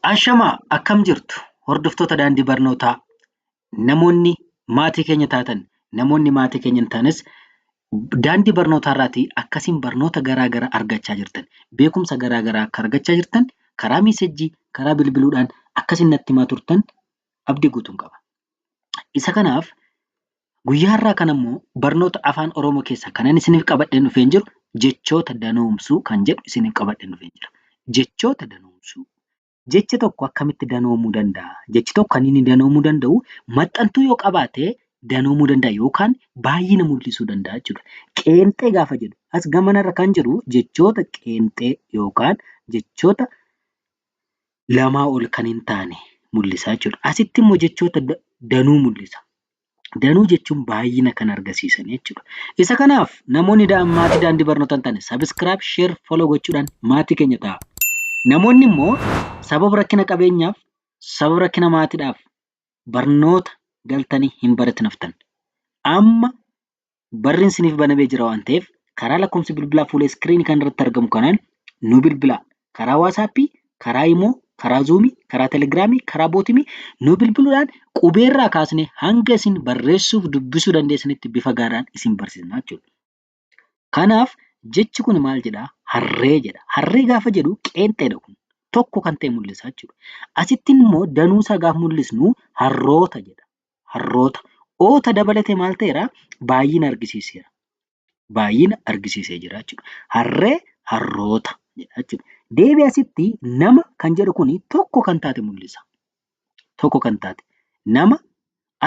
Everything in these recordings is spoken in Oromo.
Ashamaa akkam jirtu hordoftoota daandii barnootaa namoonni maatii keenya taatan namoonni maatii keenya hin taanes daandii barnootaa irraatii akkasiin barnoota garaa garaa argachaa jirtan beekumsa garaa garaa akka argachaa jirtan karaa miisejjii karaa bilbiluudhaan akkasiin natti himaa turtan abdii guutuun qaba. Isa kanaaf Guyyaa har'aa kana immoo barnoota Afaan Oromoo keessaa kanan isiniif qabadheen dhufeen jiru jechoota danoomsuu kan jedhu isiniif qabadheen dhufeen jira. Jechoota danoomsuu. Jechi tokko akkamitti danoomuu danda'a? Jechi tokko kan inni danoomuu danda'u maxxantuu yoo qabaate danoomuu danda'a yookaan baay'ina mul'isuu danda'a jechuudha. Qeenxee gaafa jedhu as gamanarra kan jiru jechoota qeenxee yookaan jechoota lamaa ol kan hin taane mul'isa jechuudha. Asitti immoo jechoota da- danuu mul'isa. danuu jechuun baay'ina kan argisiisan jechuudha. Isa kanaaf namoonni maatii daandii barnootaa hin taane sabiskiraayib, sheer, foloo gochuudhaan maatii keenya ta'a. Namoonni immoo sababa rakkina qabeenyaaf, sababa rakkina maatiidhaaf barnoota galtanii hin baratin haftan. Amma barriin siniif banamee jira waan ta'eef karaa lakkoofsi bilbilaa fuula iskiriinii kana irratti argamu kanaan nu bilbilaa. Karaa waasaappii, karaa imoo, karaa zuumii, karaa telegiraamii, karaa bootimii nu bilbiluudhaan qubeerraa kaasnee hanga isin barreessuuf dubbisuu dandeessanitti bifa gaariidhaan isin barsiisna jechuudha. Kanaaf jechi kun maal jedhaa? Harree jedha. Harree gaafa jedhu qeenxeedha kun. Tokko kan ta'e mul'isa jechuudha. Asittiin immoo danuusaa gaafa mul'isnu harroota jedha. harroota, oota dabalatee maal ta'eera? Baay'ina argisiiseera. Baay'ina argisiisee jira jechuudha. Harree, harroota jedha jechuudha. Deebii asitti nama kan jedhu kun tokko kan taate mul'isa. Tokko kan taate. Nama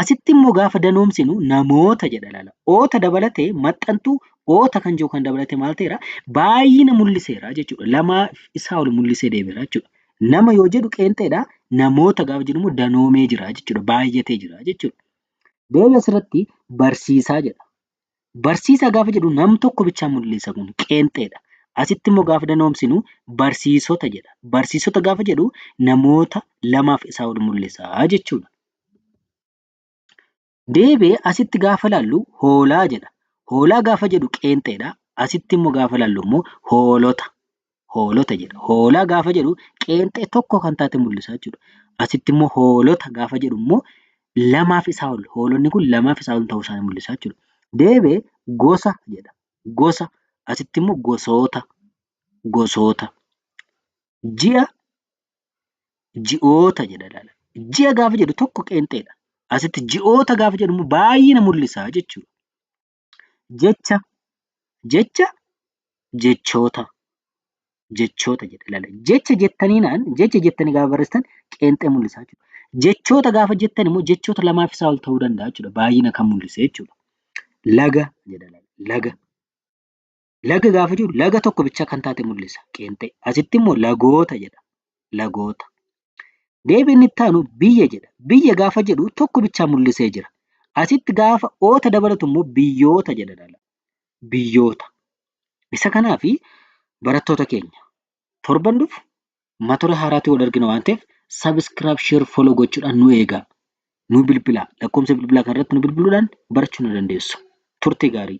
asitti immoo gaafa danoomsinu namoota jedha laala. Oota dabalatee maxxantuu oota kan jiru kan dabalatee maal ta'eera? Baay'ina mul'iseera jechuudha. Lamaa isaa ol mul'isee deemeera jechuudha. Nama yoo jedhu qeenxeedha. Namoota gaafa jedhu immoo danoomee jira jechuudha. Baay'atee jira jechuudha. Deebii asirratti barsiisaa jedha. Barsiisaa gaafa jedhu nam tokko bichaa mul'isa kun qeenxeedha. Asitti immoo gaafa danoomsinu barsiisota jedha. Barsiisota gaafa jedhu namoota lamaaf isaa ol mul'isa jechuudha. Deebi'ee asitti gaafa ilaallu hoolaa jedha. Hoolaa gaafa jedhu qeenxeedha. Asitti immoo gaafa ilaallu immoo hoolota. Hoolota jedha. Hoolaa gaafa jedhu qeenxee tokko kan taate mul'isa jechuudha. Asitti immoo hoolota gaafa jedhu immoo lamaaf isaa ol hoolonni kun lamaaf isaa ol ta'uu isaanii mul'isa jechuudha. Deebi'ee gosa jedha. Gosa asitti immoo gosoota. Gosoota. Ji'a ji'oota jedha ilaala. Ji'a gaafa jedhu tokko qeenxeedha. Asitti ji'oota gaafa jedhu immoo baay'ina mul'isa jechuudha. Jecha jecha jechoota jechoota jedha ilaala. Jecha jettaniinaan jecha jettanii gaafa barreessitan qeenxee mul'isa jechuudha. Jechoota gaafa jettan immoo jechoota lamaa fi isaa ol ta'uu danda'a jechuudha. Baay'ina kan mul'ise jechuudha. Laga jedha ilaala. Laga. Laga gaafa jiru laga tokko bicha kan taate mul'isa qeenxee. Asitti immoo lagoota jedha. Lagoota. Deebiin itti aanu biyya jedha. Biyya gaafa jedhu tokko bichaa mul'isee jira. Asitti gaafa oota dabalatu immoo biyyoota jedha dhala. Biyyoota. Isa kanaafi barattoota keenya torban dhufu matura haaraatti wal argina waan ta'eef sabiskiraab sheer foloo gochuudhaan nu eegaa. Nu bilbilaa. Lakkoofsa bilbilaa kanarratti nu bilbiluudhaan barachuu ni dandeessu. Turtii gaarii.